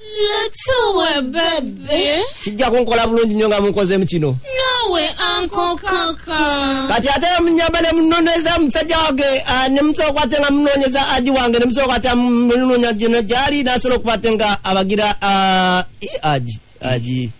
Lutuwe bebe. kijja kunkola bulungi nnyo nga munkozeemu kino Nawe anko kaka. kati ate munyamba ne munoneza musajja wange ah, ne musooka ate nga munonyeza aji wange ne musooka ate munonya gino gyali nasobola okuba ate nga abagira ah, i aji aji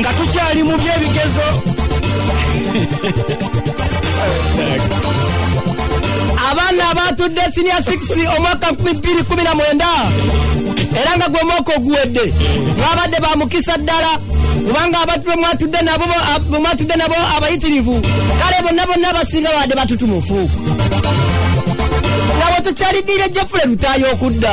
nga tukyali mu byebigezo abaana abatudde sinia 6 omwaka 219 era nga gwe mwaka oguwedde mwabadde ba mukisa ddala kubanga abantu bemwatudde nabo bemwatudde nabo abayitirivu kale bonna bonna abasinga baadde batutumufu nga bwe tukyaliddiire jefule lutaayo okudda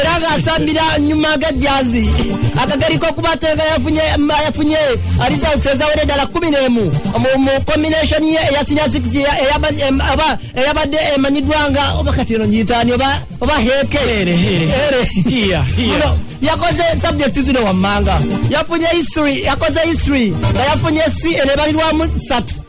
era ng'asambira nyuma agajjazi akageri k'okuba atenga yafunye results ezawere ddala kkumi n'emu mu combination ye eya senior six eyabadde emanyiddwa nga oba kati eno nyitaani oba heeke yakoze subject zino wammanga yafunye history yakoze history nga yafunye c enebalirwamu satu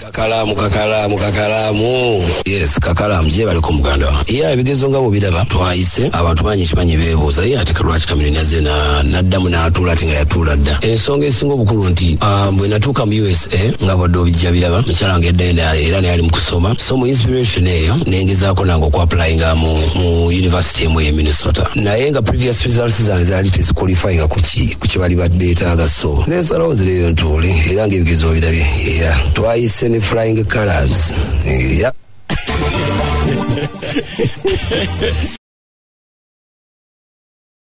kakalaamu kakalaamu kakalaamu yes kakalaamu gyebali ku muganda wa ye ebigezo nga bwebiraba twayise abantu bangi kimanyi beebuuza ye ate kalwaki kamiri naze na- n'addamu n'atuula ati nga yatuula dda ensonga esinga obukulu nti ah, bwe natuuka mu usa nga bwadde obijja biraba mukyala wange eddayo na- era naye ali mu kusoma so mu inspiration eyo nengezaako nange okuapulayinga mu mu university emu eye minnesota naye nga previous results zange zaali teziqualifyinga ku ki- ku kye bali badde etaaga so nensalawo zireyo ntuule era ngaebigezo obirabye Yeah, twayise ne flying colors. Yeah.